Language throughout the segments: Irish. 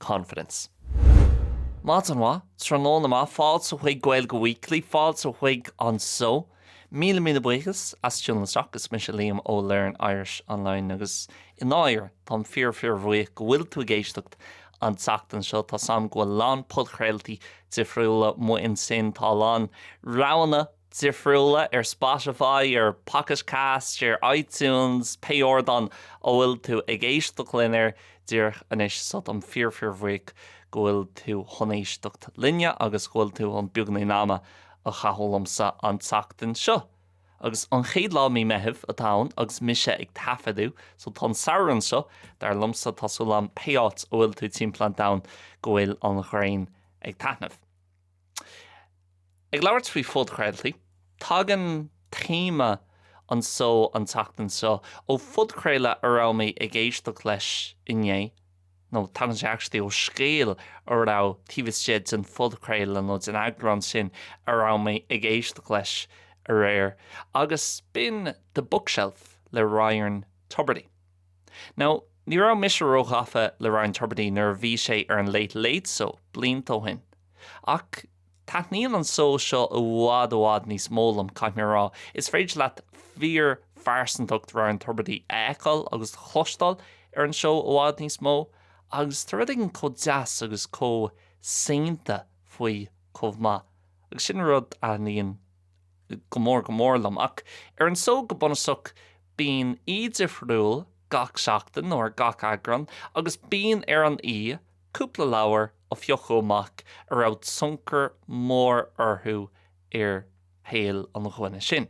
Cad é mar, maidin mhaith, tráthnóna maith, fáilte chuig Gaeilge Weekly, fáilte chuig an seó. Míle míle buíochas as tiúnáil isteach. Is mise Liam ó Learn Irish Online agus i ndáiríre táim fíor fíor bhuíoch go bhfuil tú ag éisteacht an tseachtain seo. Tá 's agam go bhfuil a lán podchraoltaí difriúla amuigh ansin, tá a lán roghanna, difriúla, ar Spotify, ar Pocket Cast, ar iTunes, pé ardán a bhfuil tú ag éisteacht linn air díreach anois. So táim fíor-fíor-bhuíoch go bhfuil tú chun éisteacht linne agus go bhfuil tú chun beagainín ama a chaitheamh liomsa an tseachtain seo. Agus an chéad lá Mí Meithimh atá ann agus mise ag taifeadadh, so tá an Samhradh anseo, dar liomsa, tá súil agam pé áit a bhfuil tú timpeall an domhain go bhfuil an ghrian ag taithneamh. Ag labhairt faoi phodchraoltaí, tagann téama an seó an tseachtain seo ó phodchraoladh a raibh mé ag éisteacht leis inné, nó tagann sé actually ó scéal a raibh taobh istigh den phodchraoladh nó den eagrán sin a raibh mé ag éisteacht leis aréir, agus b'in The Bookshelf le Ryan Tubridy. Now, ní raibh mise róghafa le Ryan Tubridy nuair a bhí sé ar an Late Late Show blianta ó shin, Ach taitníonn an seó seo i bhfad i bhfad níos mó liom, caithfidh mé a rá. Is féidir leat fíor-phearsantacht Ryan Tubridy a fheiceáil agus a chloisteáil ar an seó i bhfad níos mó, agus tá rud éigin chomh deas agus chomh saonta faoi chomh maith, agus sin rud a thaitníonn go mór go mór liom. Ach ar an seó go bunasach bíonn aoi difriúil gach seachtain, nó ar gach eagrán, agus bíonn ar an aoi Cúpla leabhar a phiocadh amach a raibh tionchar mór orthu ar shaol an duine sin.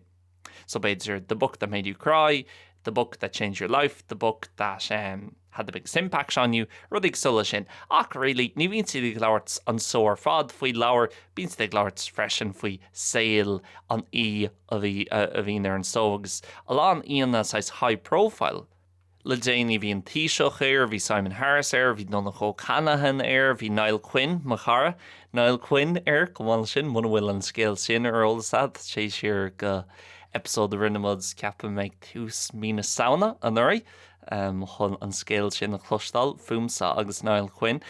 So b'fhéidir The Book That Made You Cry, The Book That Changed Your Life, The Book That ehm Had The Biggest Impact On You, rudaí cosúil le sin. Ach really, ní bhíonn siad ag labhairt an seó ar fad faoi leabhair, bíonn siad ag labhairt freisin faoi saol an aoi a bhí, a bhíonn ar an seó agus a lán aíonna saghas high profile, Le déanaí bhí an Taoiseach air, bhí Simon Harris air, bhí Donncha O'Callaghan air, bhí Niall Quinn, mo chara, Niall Quinn air chomh maith leis sin, muna bhfuil an scéal sin ar eolas agat, téigh siar go episode a rinne muid ceapaim ag tús mí na Samhna anuraidh chun an scéal sin a chloisteáil fúmsa agus Niall Quinn.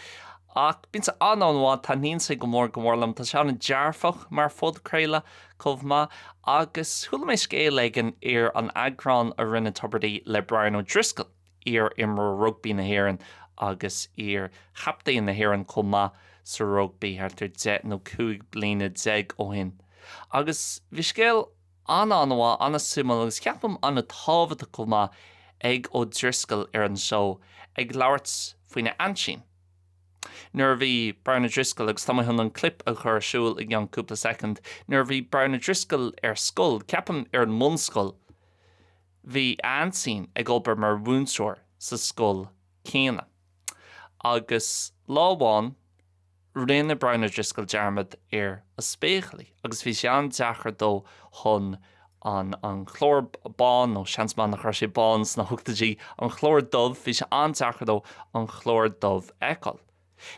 Ach bíonn sé an-an-mhaith, taitníonn sé go mór go mór liom, tá sé an-dearfach mar phodchraoladh, chomh maith, agus chuala mé scéal éigin ar an eagrán a rinne Tubridy le Brian O'Driscoll, iar-imreoir rugbaí na hÉireann agus iar-chaptaen na hÉireann chomh maith sa rugbaí, thart ar deich nó cúig bliana déag ó shin. Agus bhí scéal an-an-mhaith, an-suimiúil agus ceapaim an-tábhachtach chomh maith ag O'Driscoll ar an seó, ag labhairt faoina aimsir, nuair a bhí Brian O'Driscoll agus tá mé chun an clip a chur ar siúl i gceann cúpla soicind nuair a bhí Brian O'Driscoll ar scoil, ceapaim ar an mbunscoil, bhí a aintín ag obair mar mhúinteoir sa scoil céanna. Agus lá amháin, rinne Brian O'Driscoll dearmad ar a spéaclaí agus bhí sé an-deacair dó chun an clár bán, nó seans maith nach raibh sé bán sna hochtóidí, an clár dubh, bhí sé an-deacair dó an clár dubh a fheiceáil.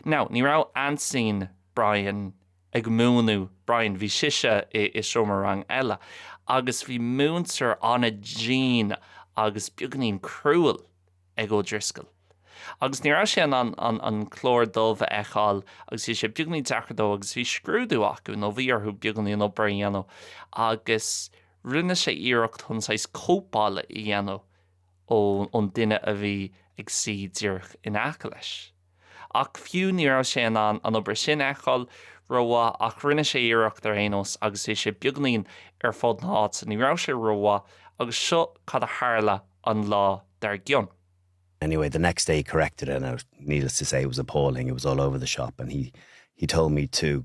Now, ní raibh aintín Brian ag múineadh Brian, bhí sise i seomra ranga eile, agus bhí múinteoir an-dian agus beagainín cruel. ag O'Driscoll. Agus ní raibh sé in ann an an clár dubh a fheiceáil agus bhí sé beagainín deacair dó agus bhí scrúdú acu nó bhí orthu beagainín obair a dhéanamh agus rinne sé iarracht chun saghas cóipeála a dhéanamh ó ón duine a bhí ag suí díreach in aice leis. Ach fiú ní raibh sé in ann an obair sin a fheiceáil rómhaith ach rinne sé iarracht ar aon nós agus bhí sé beagainín ar fud na háite. Ní raibh sé rómhaith agus seo cad a tharla an lá dar gcionn. Anyway, the next day he corrected it and it was, needless to say, it was appalling, it was all over the shop and he he told me to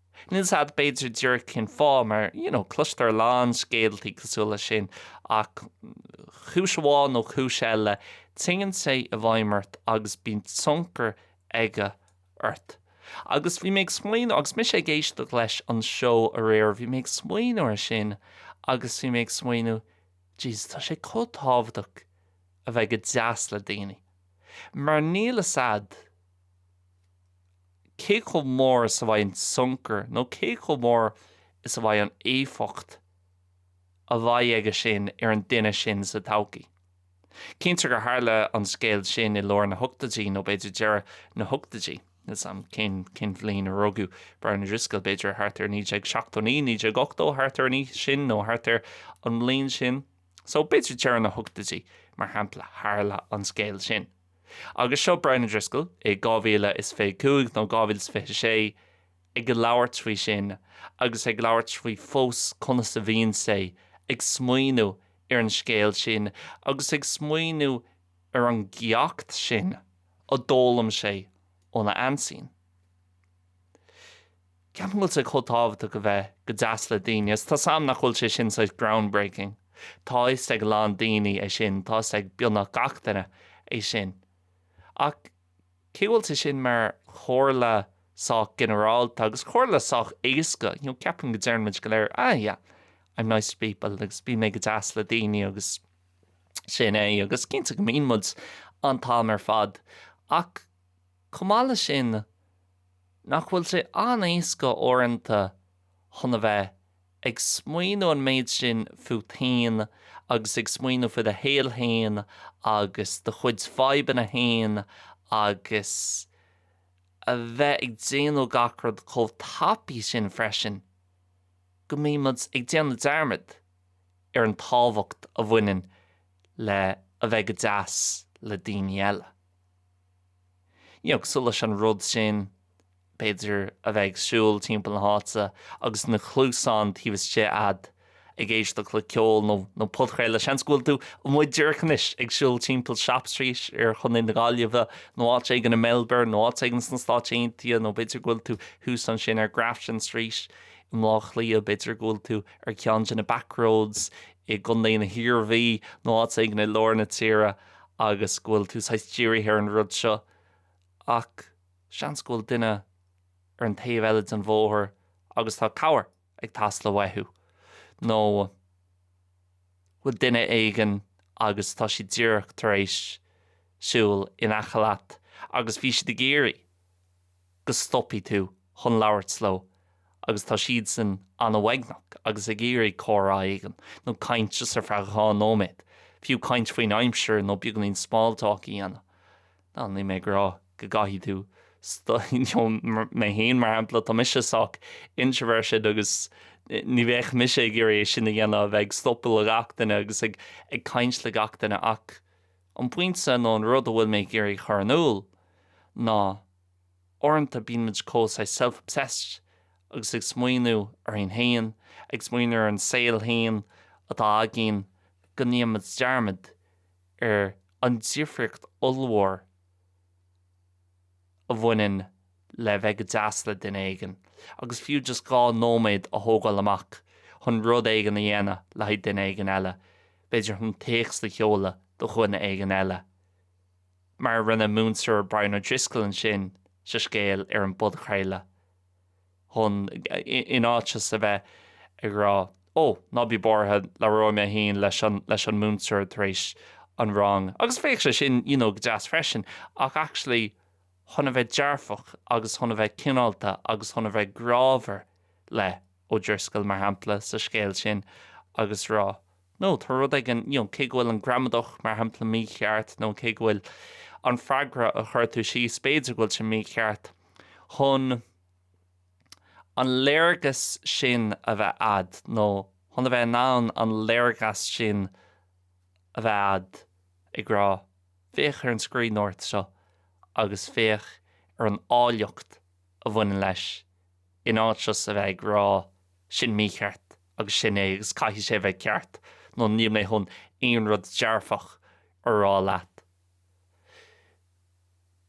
Níl a fhios agat b'fhéidir díreach cén fáth, mar you know cloistear a lán scéaltaí cosúil leis sin, ach cúis amháin nó cúis eile, téann sé i bhfeidhm ort agus bíonn tionchar aige ort. Agus bhí mé ag smaoineamh, agus mise ag éisteacht leis an seó aréir, bhí mé ag smaoineamh ar sin agus bhí mé ag smaoineamh, Jesus, tá sé chomh tábhachtach a bheith go deas le daoine, mar níl a fhios agat. cé chomh mór is a bheidh an tionchar nó cé chomh mór is a bheidh an éifeacht a bheidh aige sin ar an duine sin sa todhchaí. Cinntear gur tharla an scéal sin i lár na hochtóidí nó b'fhéidir deireadh na hochtóidí, níl a fhios agam cén cén bhliain a rugadh Brian O'Driscoll, b'fhéidir thart ar 1979, 1980, thart ar an aois sin nó thart ar an mbliain sin, so b'fhéidir deireadh na hochtóidí, mar shampla, tharla an scéal sin. Agus seo Brian O'Driscoll, i 2025 nó 2026, ag labhairt faoi sin agus ag labhairt faoi fós conas a bhíonn sé ag smaoineamh ar an scéal sin agus ag smaoineamh ar an gceacht sin a d'fhoghlaim sé óna aintín. Ceapaim go bhfuil sé chomh tábhachtach a bheith go deas le daoine, is tá 's a'm nach bhfuil sé sin saghas groundbreaking. Tá 'fhios ag a lán daoine é sin, tá 'fhios ag beagnach gach duine é sin. Ach cé go bhfuil sé sin mar chomhairle sách ginearálta, agus comhairle sách éasca, you know, ceapaim go deireann muid go léir, ah yeah, I'm nice to people agus bíonn mé go deas le daoine agus sin é, agus cinnte go mbíonn muid an t-am ar fad, ach chomh maith le sin, Nach bhfuil sé an-éasca uaireanta chun a bheith ag smaoineamh an méid sin fút fhéin agus ag smaoineamh faoi do shaol fhéin agus do chuid fadhbanna fhéin agus a bheith ag déanamh gach rud chomh tapaidh sin freisin go mbímid ag déanamh dearmad ar an tábhacht a bhaineann le a bheith go deas le daoine eile. Nó cosúil leis an rud sin, b'fhéidir, a bheith ag siúl timpeall na háite agus na cluasáin taobh istigh a'd, ag éisteacht le ceol nó podchraoladh. Seans go bhfuil tú amuigh díreach anois ag siúl timpeall Shop Street i gContae na Gaillimhe, nó áit éigin i Melbourne, nó áit éigin sna Stáit Aontaithe, nó b'fhéidir go bhfuil tú thuas ansin ar Grafton Street i mBlá Cliath, b'fhéidir go bhfuil tú ar cheann de na backroads i gContae na hIarmhí, nó áit éigin i lár na tíre. agus go bhfuil tú saghas dírithe ar an rud seo, ach seans go bhfuil duine ar an taobh eile den bhóthar agus tá cabhair ag teastáil uaidh, nó go bhfuil duine éigin agus tá siad díreach tar éis siúl in aice leat agus bhí siad ag iarraidh go stopfaidh tú chun labhairt leo agus tá siadsan an-uaigneach agus ag iarraidh comhrá éigin, nó caint just ar feadh dhá nóiméad, fiú caint faoin aimsir nó beagainín small talk a dhéanamh. Now, níl mé ag rá go gcaithfidh tú you know, mé féin mar shampla, tá mise sách introverted agus ní bheadh mise ag iarraidh é sin a dhéanamh, a bheith ag stopadh le gach duine agus ag caint le gach duine ach, An pointe nó an rud a bhfuil mé ag iarraidh a chur in iúl ná uaireanta bíonn muid chomh saghas self-obsessed agus ag smaoineamh orainn féin, ag smaoineamh ar an saol féin atá againn go ndéanann muid dearmad ar an difríocht ollmhór a bhaineann le bheith go deas le duine éigin agus fiú just dhá nóiméad a thógáil amach chun rud éigin a dhéanamh le haghaidh duine éigin eile. b'fhéidir chun téacs a sheoladh do dhuine éigin eile, mar a rinne múinteoir Brian O'Driscoll ansin sa scéal ar an bpodchraoladh, chun, in áit just a bheith ag rá, Ó, ná bí buartha, labhróidh mé féin leis an múinteoir tar éis an rang, agus bheadh sé sin, you know, go deas freisin, ach actually, chun a bheith dearfach, agus chun a bheith cineálta, agus chun a bheith grámhar, le. O'Driscoll, mar shampla, sa scéal sin agus rá, No, tá rud éigin, you know, cé go bhfuil an gramadach, mar shampla, mícheart nó cé go bhfuil an freagra a chuir tú síos, b'fhéidir go bhfuil sé mícheart, chun an léargas sin a bheith a'd nó chun a bheith in ann an léargas sin a bheith a'd, ag rá, féach ar an scríbhneoireacht seo agus féach ar an áilleacht a bhaineann leis, in áit just a bheith ag rá sin mícheart agus sin é agus caithfidh sé bheith ceart nó níl mé chun aon rud dearfach a rá leat.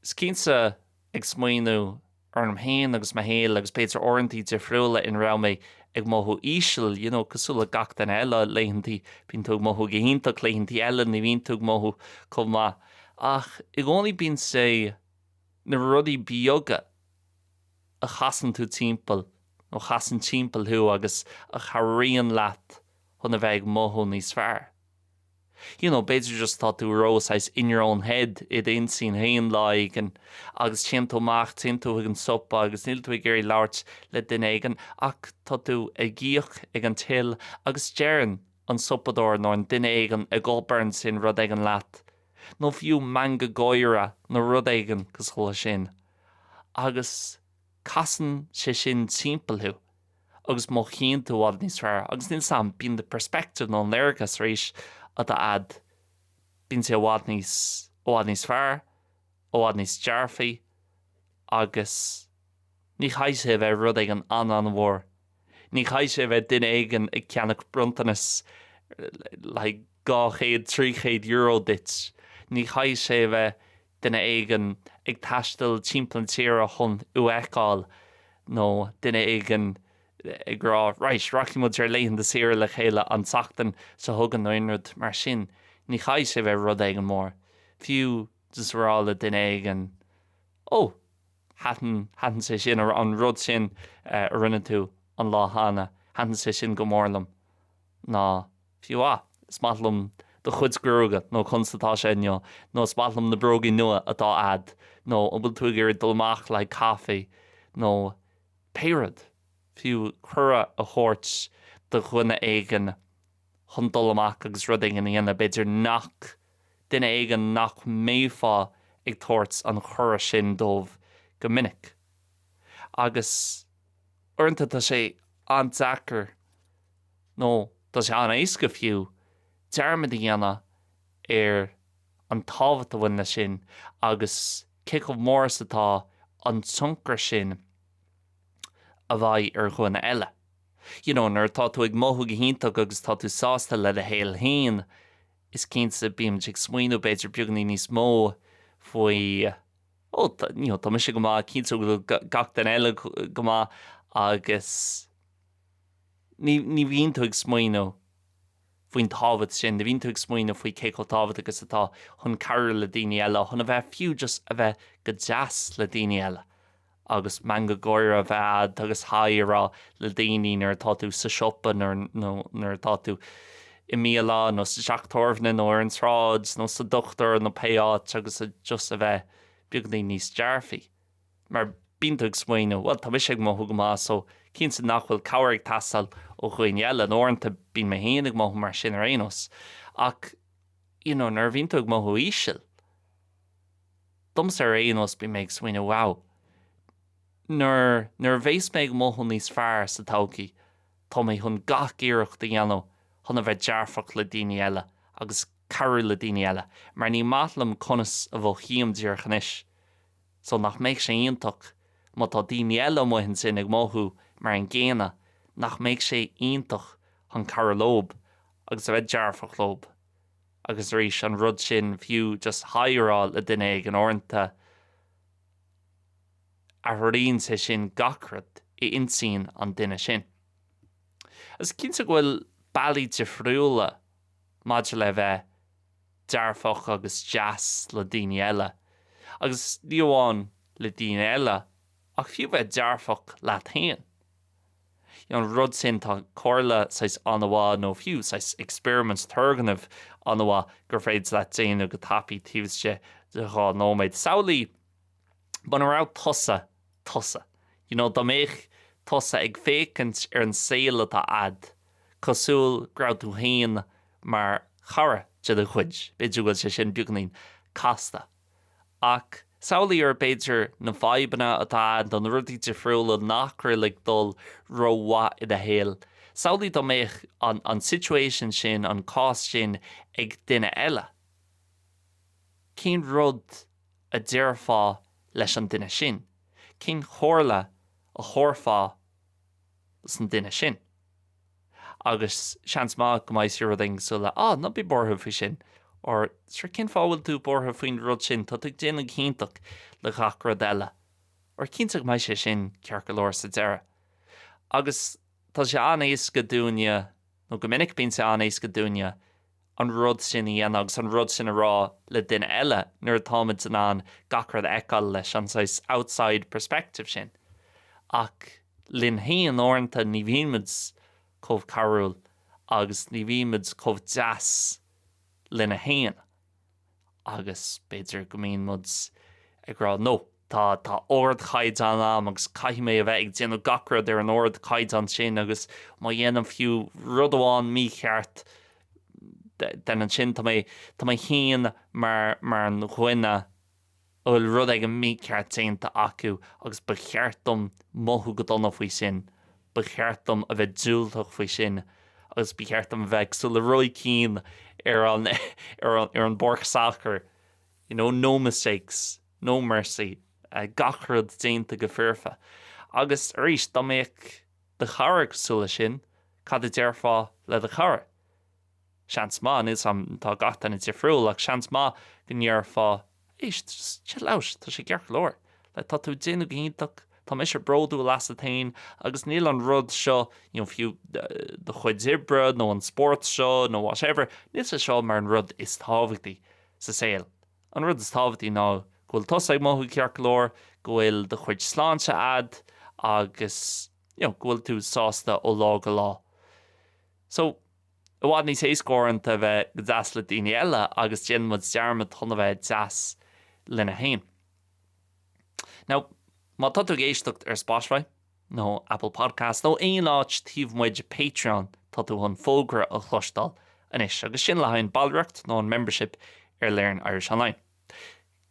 Is cinnte ag smaoineamh orm féin agus mo shaol agus b'fhéidir uaireantaí difriúla ina raibh mé ag mothú íseal, you know cosúil le gach duine eile, laethantaí bíonn tú ag mothú go hiontach, laethantaí eile ní bhíonn tú ag mothú chomh maith ach i gcónaí bíonn sé na rudaí beaga a chasann tú timpeall, nó chasann timpeall thú agus a chabhraíonn leat chun a bheith ag mothú níos fearr. You know, b'fhéidir just tá tú ró saghas in your own head, i d'intinn féin lá éigin agus téann tú amach, téann tú chuig an siopa agus níl tú ag iarraidh labhairt le duine éigin ach tá tú ag íoc ag an till agus deireann an siopadóir nó an duine éigin ag obair ansin rud éigin leat nó fiú meangadh gáire nó rud éigin cosúil leis sin. agus casann sé sin timpeall thú agus mothaíonn tú i bhfad níos fearr agus níl 's a'm bíonn do perspective nó an léargas arís atá a'd bíonn sé i bhfad níos i bhfad níos fearr i bhfad níos dearfaí agus ní chaithfidh sé a bheith rud éigin an-an-mhór Ní chaithfidh sé a bheith duine éigin ag ceannach bronntanas le haghaidh dhá chéad, trí chéad euro duit. Ní chaithfidh sé a bheith duine éigin ag taisteal timpeall na tíre chun thú a fheiceáil, nó duine éigin ag rá, Right, rachaidh muid ar laethanta saoire le chéile an tseachtain seo chugainn nó aon rud mar sin. Ní chaithfidh sé a bheith rud éigin mór. Fiú just a rá le duine éigin, Oh, Thaitin, thaitin sé sin, an rud sin a rinne tú an lá cheana, thaitin sé sin go mór liom. Nó fiú, ah, is maith liom do chuid gruaige, nó conas atá sé inniu, nó is maith liom na bróga nua atá a'd, nó an bhfuil tú ag iarraidh dul amach le haghaidh caife, nó pé rud. Fiú cuireadh a thabhairt do dhuine éigin chun dul amach agus rud éigin a dhéanamh, b'fhéidir nach. duine éigin nach mbéifeá ag tabhairt an chuireadh sin dóibh go minic. Agus uaireanta tá sé an-deacair, nó tá sé an-éasca fiú, dearmad a dhéanamh ar an tábhacht a bhaineann leis sin agus cé chomh mór is atá an tionchar sin a bheidh ar dhuine eile. You know, nuair atá tú ag mothú go hiontach agus tá tú sásta le do shaol féin, Is cinnte, bímid ag smaoiniú b'fhéidir beagainín níos mó faoi, ó, you know, tá mise go maith, cinnte go bhfuil gach duine eile go maith agus ní, ní bhíonn tú ag smaoiniú faoin tábhacht sin, ní bhíonn tú ag smaoiniú faoi cé chomh tábhachtach is atá chun cabhrú le daoine eile, chun a bheith, fiú just a bheith go deas le daoine eile agus meangadh gáire a bheith agat agus 'haigh' a rá le daoine nuair atá tú sa siopa nó nuair atá tú i mbialann nó sa teach tábhairne nó ar an tsráid nó sa dochtúir nó pé áit agus just a bheith beagainín níos dearfaí mar bíonn tú ag smaoiniú 'bhuel tá mise ag mothú go maith so cinnte nach bhfuil cabhair ag teastáil ó dhaoine eile' nó uaireanta bíonn mé féin ag mothú mar sin ar aon nós ach you know nuair a bhíonn tú ag mothú íseal. Domsa ar aon nós, bíonn mé ag smaoiniú, wow, nuair, nuair a bheas mé ag mothú níos fearr sa todhchaí, tá mé chun gach iarracht a dhéanamh chun a bheith dearfach le daoine eile agus cabhrú le daoine eile, mar ní maith liom conas a mhothaím díreach anois. So nach mbeadh sé iontach má tá daoine eile amuigh ansin ag mothú mar an gcéanna, nach mbeadh sé iontach chun cabhrú leob agus a bheith dearfach leob. Agus arís, an rud sin, fiú just haigh a rá le duine éigin uaireanta, athraíonn sé sin gach rud i intinn an duine sin. Agus cinnte go bhfuil bealaí difriúla maidir le bheith dearfach agus deas le daoine eile. Agus ní amháin le daoine eile, ach fiú bheith dearfach leat féin. an rud sin, tá comhairle saghas an-mhaith nó fiú saghas experiment, turgnamh, an-mhaith gur féidir leat déanamh go tapaidh taobh istigh de dhá nóiméad. Samhlaigh muna raibh tusa, tusa, you know, dá mbeadh tusa ag féachaint ar an saol atá a'd cosúil go raibh tú féin mar chara de do chuid, b'fhéidir go bhfuil sé sin beagainín casta. Ach samhlaigh ar b'fhéidir na fadhbanna atá a'd nó na rudaí difriúla nach raibh ag dul ró-mhaith i do shaol. Samhlaigh dá mbeadh an an situation sin, an cás sin, ag duine eile. Cén rud a déarfá leis an duine sin? Cén chomhairle a thabharfá dosan duine sin? agus seans maith go mbeadh sé rud éigin cosúil le á, ná bí buartha faoi sin. Or, Sure, cén fáth a bhfuil tú buartha faoin rud sin, tá tú ag déanamh go hiontach le gach rud eile. Or, cinnte go mbeidh sé sin ceart go leor sa deireadh. Agus tá sé an-éasca dúinne, nó go minic bíonn sé an-éasca dúinne, an rud sin a dhéanamh agus an rud sin a rá le duine eile nuair atáimid in ann gach rud a fheiceáil leis an saghas outside perspective sin. Ach linne féin uaireanta ní bhímid chomh cabhrúil agus ní bhímid chomh deas linne féin. agus b'fhéidir go mbíonn muid ag rá No, tá, tá ardchaighdeán a'm agus caithfidh mé a bheith ag déanamh gach rud ar an ardchaighdeán sin agus má dhéanaim fiú rud amháin mícheart then ansin tá mé, tá mé féin mar, mar dhuine, a bhfuil rud éigin mícheart déanta acu agus ba cheart dom mothú go dona faoi sin, ba cheart dom a bheith diúltach faoi sin agus ba cheart dom a bheith cosúil le Roy Keane ar an ar an bpáirc sacair, you know, no mistakes, no mercy, gach rud déanta go foirfe. Agus arís, dá mbeadh do chara cosúil leis sin, cad a déarfá le do chara? Seans maith, níl 's agam am, tá gach duine difriúil, ach seans maith go ndéarfá, éist, just chill out, tá sé ceart go leor, like tá tú ag déanamh go hiontach, tá mise bródúil asat féin agus níl an rud seo, you know, fiú do chuid oibre nó an spórt seo nó whatever, níl sé seo mar an rud is tábhachtaí sa saol. An rud is tábhachtaí ná go bhfuil tusa ag mothú ceart go leor, go bhfuil do chuid sláinte a'd agus, you know, go bhfuil tú sásta ó lá go lá. So, i bhfad níos éasca uaireanta a bheith go deas le daoine eile agus déanann muid dearmad chun a bheith deas linne féin. Now, má tá tú ag éisteacht ar Spotify, nó Apple Podcasts, nó aon áit taobh amuigh de Patreon, tá tú chun fógra a chloisteáil anois, agus sin le haghaidh an ballraíocht nó an membership ar Learn Irish Online.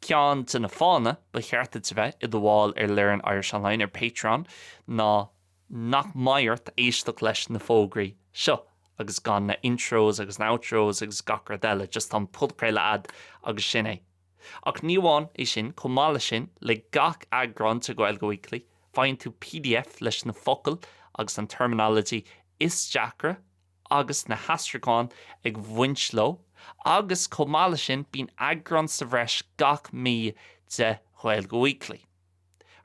Ceann de na fáthanna ba cheart duit a bheith i do bhall ar Learn Irish Online ar Patreon ná nach mbeidh ort éisteacht leis na fógraí seo agus gan na intros agus na outros agus gach rud eile, just tá an podchraoladh a'd agus sin é. Ach ní amháin é sin, chomh maith leis sin, le gach eagrán de Gaeilge Weekly, faigheann tú pdf leis na focail agus an terminology is deacra a agus na haistriúcháin ag bhaint leo, agus chomh maith leis sin, bíonn eagrán sa bhreis gach mí de Ghaeilge Weekly.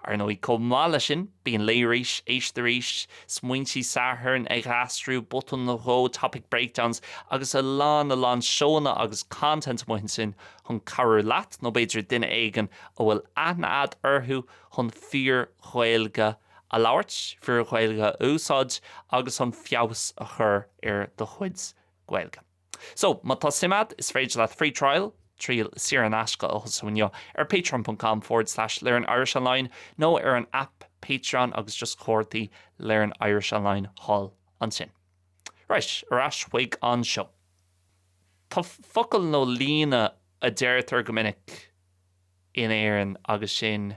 Ar ndóigh, chomh maith leis sin, bíonn Léigh Arís, Éist Arís, Smaointe Sathairn, Ag Aistriú, Botún nó Dhó, Topic Breakdowns, agus a lán a lán seóanna agus content amuigh ansin chun cabhrú leat, nó b'fhéidir duine éigin a bhfuil aithne agat orthu, chun fíor-Ghaeilge a a labhairt, fíor Ghaeilge a úsáid agus an feabhas a chur ar do chuid Gaeilge. So, má tá suim agat, is féidir leat free trial, triail saor in aisce, a thosú inniu ar patreon.com forward slash learnirishonline nó ar an aip Patreon agus just cuardaigh Learn Irish Online thall ansin. Right, ar ais chuig an seó. Tá focal nó líne a deirtear go minic in Éirinn agus sin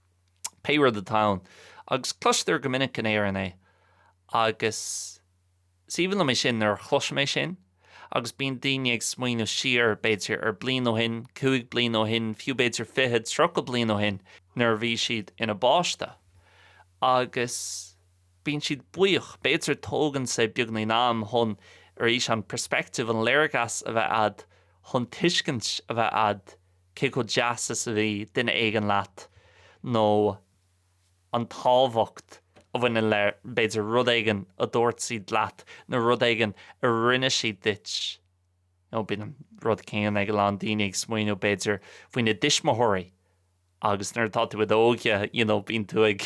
pé rud atá ann, agus cloistear go minic in Éirinn é, agus is aoibhinn liom é sin nuair a chloisim é sin, agus bíonn daoine ag smaoineamh siar, b'fhéidir, ar bliain ó shin, cúig bliana ó shin, fiú b'fhéidir fiche, tríocha bliain ó shin, nuair a bhí siad ina bpáiste, agus bíonn siad buíoch, b'fhéidir tógann sé beagáinín am chun, arís, an perspective, an léargas a bheith a'd, chun tuiscint a bheith a'd cé chomh deas is a bhí duine éigin leat nó an tábhacht a bhaineann le, b'fhéidir, rud éigin a dúirt siad leat nó rud éigin a rinne siad duit. Nó bíonn an rud céanna ag a lán daoine ag smaoineamh, b'fhéidir, faoina dtuismitheoirí agus nuair atá tú i d'óige you know bíonn tú ag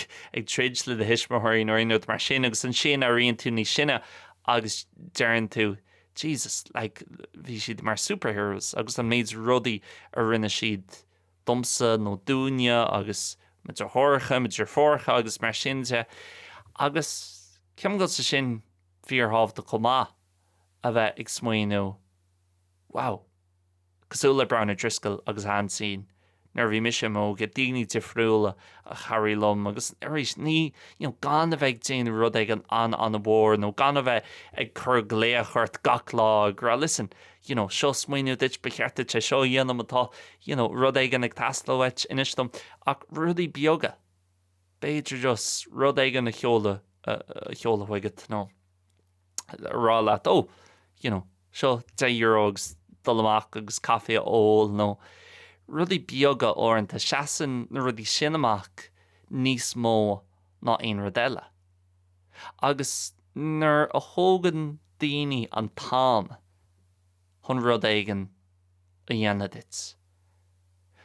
troid le do thuismitheoirí nó aon rud mar sin agus ansin éiríonn tú níos sine agus deireann tú Jesus, like, bhí siad mar superheroes agus an méid rudaí a rinne siad domsa nó dúinne agus mo deartháireacha, mo dheirfiúracha agus mar sin de. Agus ceapaim go bhfuil sé sin, fíorthábhachtach chomh maith a bheith ag smaoineamh, wow, Cosúil le Brian O'Driscoll agus a aintín, nuair a bhí mise i m'óige, daoine difriúla a chabhraigh liom agus arís, ní, you know, gan a bheith ag déanamh rud éigin an-an-mhór nó gan a bheith ag cur glaoch ort gach lá ag rá, listen, you know, seo smaoineamh duit, ba cheart duit é seo a dhéanamh, má tá, you know, rud éigin ag teastáil uait, inis dom, ach rudaí beaga, b'fhéidir just rud éigin a sheoladh, a sheoladh chuigat, you know. rá leat, oh, you know, seo deich euro agus dul amach agus caife a ól nó rudaí beaga uaireanta, seasann na rudaí sin amach níos mó ná aon rud eile. Agus nuair a thógann daoine an t-am, chun rud éigin a dhéanamh duit.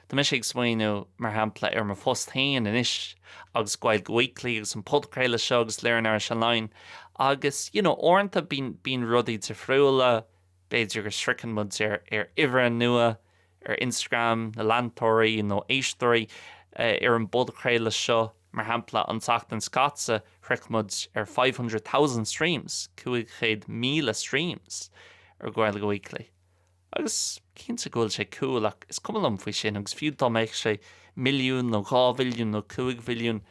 Tá mise ag smaoineamh, mar shampla, ar mo phost féin anois agus Gaeilge Weekly agus an podchraoladh seo agus Learn Irish Online agus, you know, uaireanta bíonn rudaí difriúla, b'fhéidir go sroicheann muid ar uimhir nua ar Instagram, na leantóirí nó éisteoirí ar an bpodchraoladh seo. Mar shampla, an tseachtain seo caite, shroich muid ar five hundred thousand streams, 500,000 streams, ar Gaeilge Weekly. Agus, cinnte go bhfuil sé cool, ach is cuma liom faoi sin, agus fiú dá mbeadh sé milliún, nó dhá mhilliún, nó cúig mhilliún,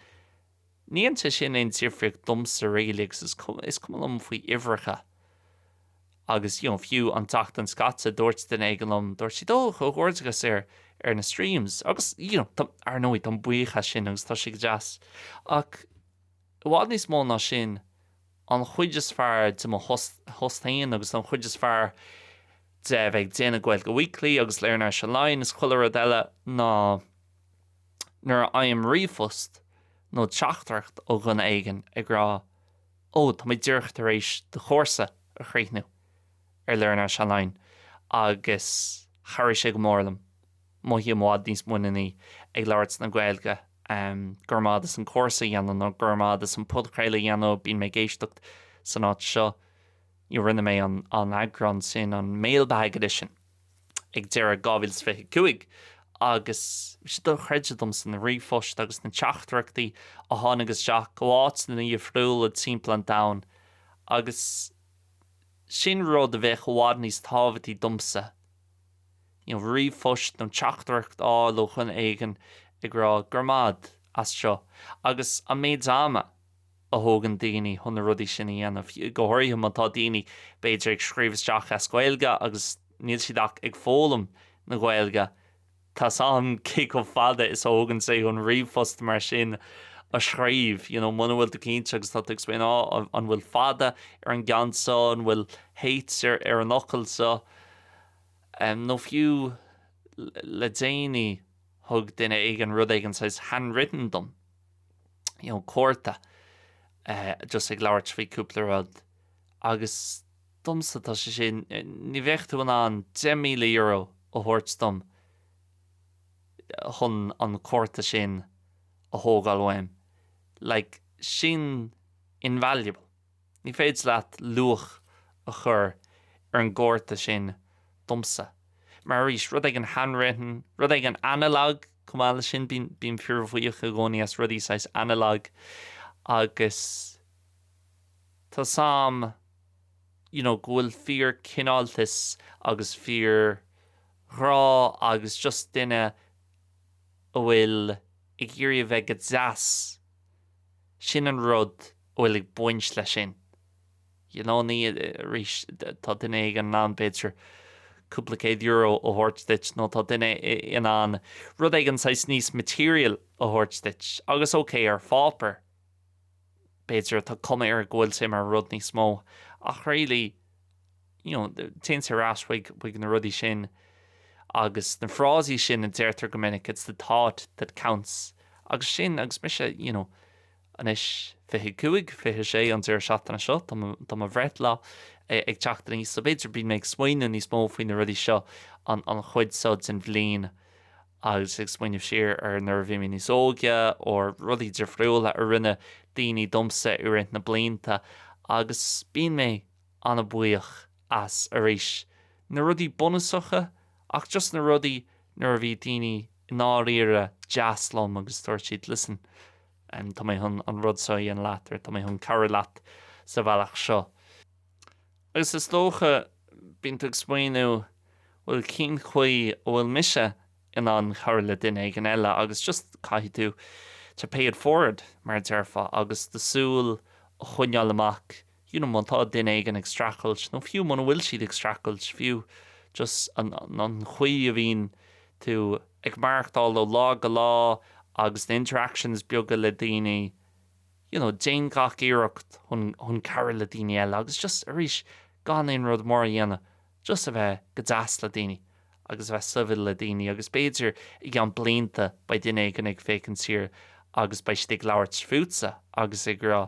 ní dhéanann sé sin aon difríocht domsa really, agus is cuma, is cuma liom faoi uimhreacha. Agus you know fiú an tseachtain seo caite dúirt duine éigin liom, dúirt siad 'Ó, comhghairdeachas ar, ar na streams. Agus you know tá, ar ndóigh táim buíoch as sin agus tá sé go deas. Ach i bhfad níos mó ná sin, an chuid is fearr de mo phost, phost féin agus an chuid is fearr de a bheith ag déanamh Gaeilge Weekly agus Learn Irish Online is chuile rud eile ná nuair a fhaighim ríomhphost nó teachtaireacht ó dhuine éigin ag rá Ó, tá muid díreach tar éis do chúrsa a chríochnú, ar Learn Irish Online, agus chabhraigh sé go mór liom. Mothaím i bhfad níos muiníní ag labhairt na Gaeilge. Grma as an gcúrsa a dhéanamh, nó grma as an bpodchraoladh a dhéanamh, bíonn mé ag éisteacht san áit seo. Rinne mé an eagrán sin, an mailbag edition. ag deireadh 2025 agus bhí sé dochreidte domsa na ríomhphoist agus na teachtaireachtaí a tháinig isteach ó áiteanna dhifriúla timpeall an domhain agus sin rud atá i bhfad níos tábhachtaí domsa, you know, ríomhphost nó teachtaireacht a fháil ó dhuine éigin ag rá 'Grma as seo' agus an méid ama a thógann daoine chun na rudaí sin a dhéanamh, go háirithe má tá daoine, b'fhéidir, ag scríobh isteach as Gaeilge agus níl siad ach ag foghlaim na Gaeilge. Tá's agam cé chomh fada is a thógann sé chun ríomhphost mar sin a scríobh, you know, muna bhfuil tú cinnte agus tá tú ag smaoineamh, ah, an bhfuil fada ar an gceann seo, an bhfuil H ar an bhfocal seo? Em, nó fiú le déanaí thug duine éigin rud éigin saghas handwritten dom. you know cárta eh just ag labhairt faoi cúpla rud agus domsa tá sé sin ní bheadh tú in ann €10,000 a thabhairt dom chun an cárta sin a thógáil uaim like sin invaluable. Ní féidir leat luach a chur ar an gcárta sin, domsa. Mar arís, rud éigin handwritten, rud éigin analog, chomh maith leis sin, bím, bím fíorbhuíoch i gcónaí as rudaí saghas analog agus tá 's a'm, you know, go bhfuil fíorchineáltas agus fíorghrá agus just duine a bhfuil ag iarraidh a bheith go deas, sin an rud. bhfuil ag baint leis sin. You know, ní, arís, tá duine éigin in ann, b'fhéidir, cúpla céad euro a thabhairt duit, nó tá duine in ann rud éigin saghas níos material a thabhairt duit, agus ok, ar pháipéar, b'fhéidir, tá cuma air go bhfuil sé mar rud níos mó, ach really, you know, téann sé ar ais chuig, chuig na rudaí sin, agus na frásaí sin a deirtear go minic, it's the thought that counts, agus sin, agus mise, you know, Anois, fiche cúig, fiche sé an deireadh seachtaine seo, tá mo bhreithlá ag teacht aníos so b'fhéidir bíonn mé ag smaoineamh níos mó faoi na rudaí seo an chuid seo den bhliain agus ag smaoineamh siar ar nuair a bhí mé níos óige or rudaí difriúla a rinne daoine domsa i rith na blianta agus bíonn mé an-bhuíoch as arís na rudaí bunúsacha ach just na rudaí nuair a bhí daoine i ndáiríre deas liom agus dúirt siad listen Tá mé chun an rud seo a dhéanamh leat, or Tá mé chun cabhrú leat sa bhealach seo. Agus is dócha, bíonn tú ag smaoineamh, bhuel, cén chaoi a bhfuil mise in ann cabhrú le duine éigin eile? Agus just caithfidh tú to pay it forward, mar a déarfá, agus do súil a choinneáil amach you know má tá duine éigin ag streachailt, nó fiú muna bhfuil siad ag streachailt, fiú just an chaoi a bhíonn tú ag maireachtáil ó lá go lá agus na interactions beaga le daoine, you know déan gach iarracht chun cabhrú le daoine eile agus just arís gan aon rud mór a dhéanamh. just a bheith go deas le daoine agus a bheith sibhialta le daoine agus b'fhéidir i gceann blianta beidh duine éigin ag féachaint siar agus beidh siad ag labhairt fútsa agus ag rá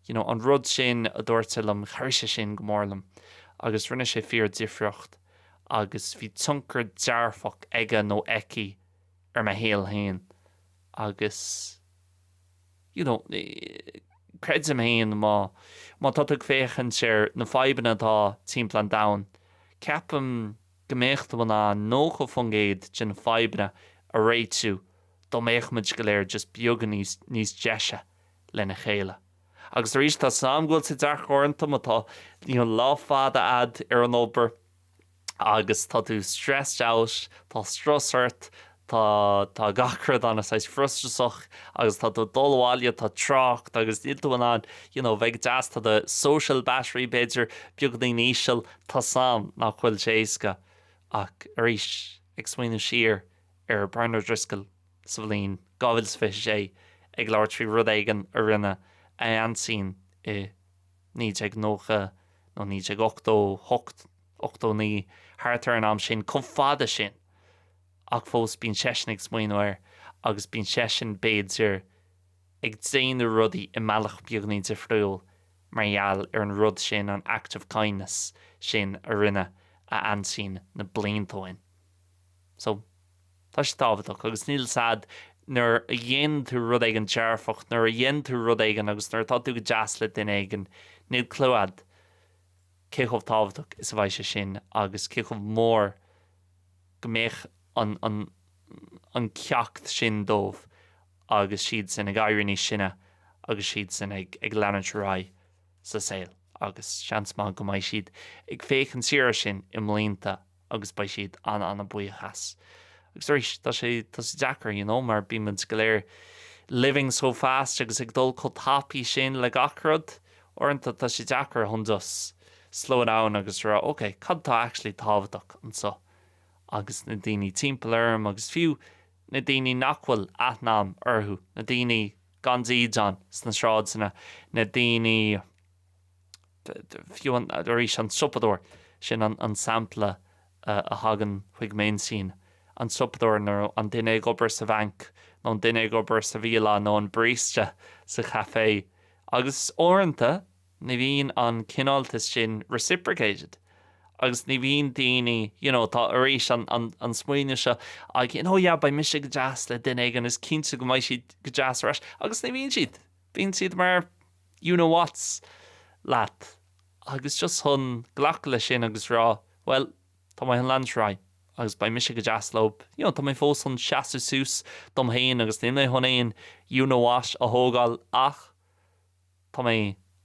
you know an rud sin a dúirt sé liom chuir sé sin go mór liom agus rinne sé fíordhifríocht agus bhí tionchar dearfach aige nó aici ar mo shaol féin agus. you know, creidim féin má, má tá tú ag féachaint ar na fadhbanna atá timpeall an domhain, ceapaim go mbeadh tú in ann 90% de na fadhbanna a réitiú dá mbeadh muid go léir just beagán níos, níos deise lena chéile. Agus arís, tá 's a'm go bhfuil sé deacair uaireanta má tá, you know, lá fada a'd ar an obair, agus tá tú stressed out, tá strus ort, tá, tá gach rud an-saghas frustrasach agus tá tú ag dul abhaile, tá trácht agus níl tú in ann, you know, bheith deas, tá do social battery b'fhéidir beagnín íseal, tá sé, nach bhfuil sé éasca. Ach arís, ag smaoineamh siar ar Brian O'Driscoll sa bhliain 2026 ag labhairt faoi rud éigin a rinne a aintín i, 1990 nó 1988, 89, thart ar an am sin, chomh fada sin. Ach fós bíonn seisean ag smaoineamh air agus bíonn seisean, b'fhéidir, ag déanamh rudaí i mbealach beagáinín difriúil mar gheall ar an rud sin, an act of kindness sin a rinne a aintín na blianta ó shin. So. Tá sé tábhachtach agus níl a fhios agat nuair a dhéanann tú rud éigin dearfach, nuair a dhéanann tú rud éigin agus nuair atá tú go deas le duine éigin, níl clue agat cé chomh tábhachtach is a bheidh sé sin agus cé chomh mór go mbeadh an an ceacht sin dóibh agus siad sin ag éirí níos sine agus siad sin ag ag leanúint ar aghaidh sa saol agus seans maith go mbeidh siad ag féachaint siar ar sin i mblianta agus beidh siad an-an-bhuíoch as. Agus arís, tá sé, tá sé deacair, you know, mar bímid go léir living so fast agus ag dul chomh tapaidh sin le gach rud, uaireanta tá sé deacair chun just slow it down agus a rá, ok, cad atá actually tábhachtach anseo? Agus na daoine timpeall orm agus fiú na daoine nach bhfuil aithne a'm orthu, na daoine gan dídeán sna sráideanna, na daoine. fiú arís an siopadóir, sin an sampla a thagann chuig m'intinn, an siopadóir nó an duine ag obair sa bhanc nó an duine ag obair sa bhialann nó an barista sa chaifé. Agus uaireanta ní bhíonn an cineáltas sin reciprocated agus ní bhíonn daoine, you know, tá arís an smaoineamh seo againn, oh yeah, beidh mise go deas le duine éigin is cinnte go mbeidh siad go deas ar ais, agus ní bhíonn siad, bíonn siad mar. you know what's leat agus just chun glacadh le sin agus rá bhuel tá mé chun leanúint ar aghaidh agus beidh mise go deas leob you know tá mé fós chun seasamh suas dom féin agus níl mé chun aon you know what a thógáil ach tá mé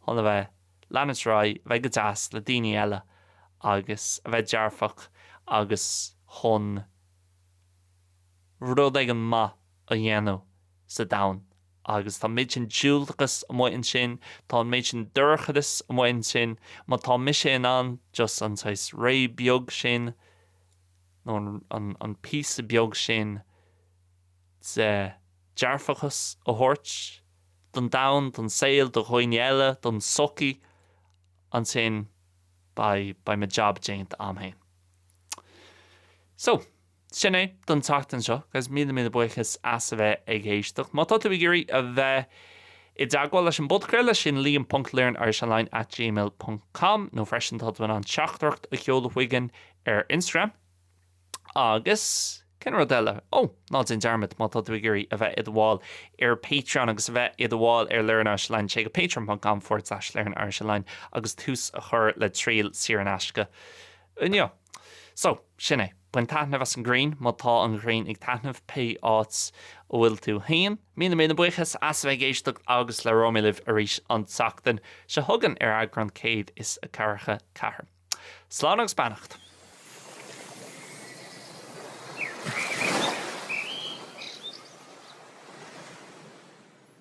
chun a bheith ag leanúint ar aghaidh bheith go deas le daoine eile agus a bheith dearfach agus chun rud éigin maith a dhéanamh sa domhan. Agus tá an méid sin diúltachas amuigh ansin, tá an méid sin dorchadas amuigh ansin, má tá mise in ann just an saghas ré beag sin, nó an píosa beag sin de dearfachas a thabhairt don domhan, don saol, do dhaoine eile, don tsochaí, ansin beidh mo jab déanta agam féin. So. Sin é don tseachtain seo, agus míle míle buíochas as a bheith ag éisteacht. Má tá tú ag iarraidh a bheith i dteagmháil leis an bpodchraoladh, sin liam ponc learnirishonline at gmail ponc com, nó freisin tá tú in ann teachtaireacht a sheoladh chugainn ar Instagram. Agus cén rud eile? Ó, ná déan dearmad, má tá tú ag iarraidh a bheith i do bhall ar Patreon agus a bheith i do bhall ar learnirishonline, téigh go patreon ponc com forward slash learnirishonline agus tús a chur le triail saor in aisce inniu. So, sin é. Bain taitneamh as an ghrian, má tá an ghrian ag taitneamh pé áit a bhfuil tú féin. Míle míle buíochas as a bheith ag éisteacht agus labhróidh mé libh arís an tseachtain seo chugainn ar eagrán 144. Slán agus beannacht.